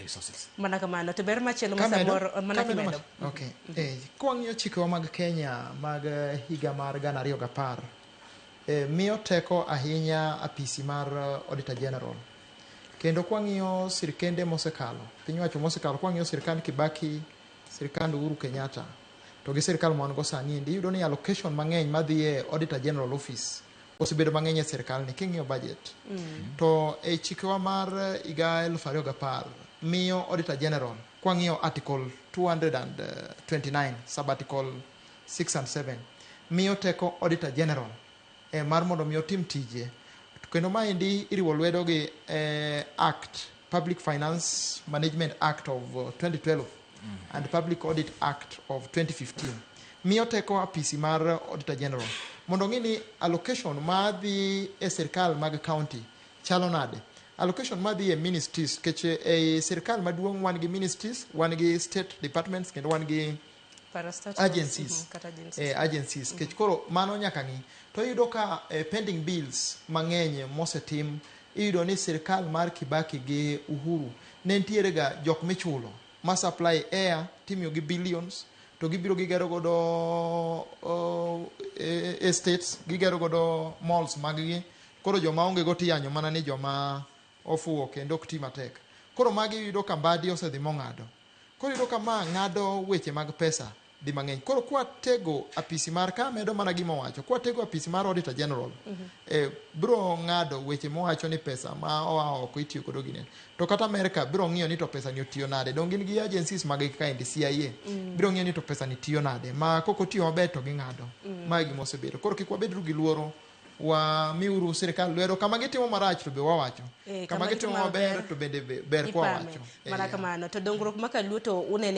resources. Mana kamano to ber machielo ma Kamedo, samoro eh, mana kamedo kimedo. ma- okay. Eh, kwang'iyo chikewa mag Kenya mag eh, higa mar gana ariyo gapar eh, miyo teko ahinya apisi mar eh, Auditor General kendo kwang'iyo sirkende mosekalo piny wacho mosekalo kwang'iyo sirkand Kibaki sirkand Uhuru Kenyatta to gi sirkal ma wan go sani endi iyudo ni allocation mang'eny madhi e Auditor General office osebedo mang'eny e sirkal ni king'iyo budget mm. to e chikewa mar higa elfu ariyo gapar miyo auditor general kwang'iyo article 229 sub article 6 and 7 miyo teko auditor general e mar mondo mi otim tije kendo maendi iriwo lwedo gi e, act Public Finance Management Act of 2012 uh, mm. and Public Audit Act of 2015 miyo teko apisi mar Auditor General mondo ng'i ni allocation ma dhi e sirkal mag county chalo nade allocation ma dhi e ministries keche e sirkal maduong' wan gi ministries wan gi state departments kendo wan gi agencies mhm, eh, agencies mhm. kech koro mano nyaka ng'i to iyudo ka eh, pending bills mang'eny mosetim iyudo ni sirkal mar kibaki gi uhuru ne ntiere ga jok michulo ma supply air timiyo gi billions to gibiro gigero godo uh, estates gigero godo malls maggi koro joma onge go tiyanyo mana ni joma ofuwo kendo ok ti matek koro magi yudo ka mbadi osedhi mong'ado Koro iyudo ka ma ng'ado weche mag pesa di mang'eny. Koro kwatego apisi mar ka medo mana gima owacho, kwatego apisi mar Auditor General, eh, biro ng'ado weche mowacho ni pesa ma oa oko itiyo godo gi nini. To kata Amerka biro ng'iyo ni to pesa ni otiyo nade. Donge gin gi agencies mag kaendi CIA. Mm. Biro ng'iyo ni to pesa ni tiyo nade. Ma kok otiyo maber to ging'ado. Mm. Ma e gima osebedo. Koro kik wabedru gi luoro wamiuru sirikal lwedo kama gitimo marach to be wawacho Eh, kama gitimo maber to bende be- ber kwa ipame wacho mana kamano to dongruok ma kaluo to unene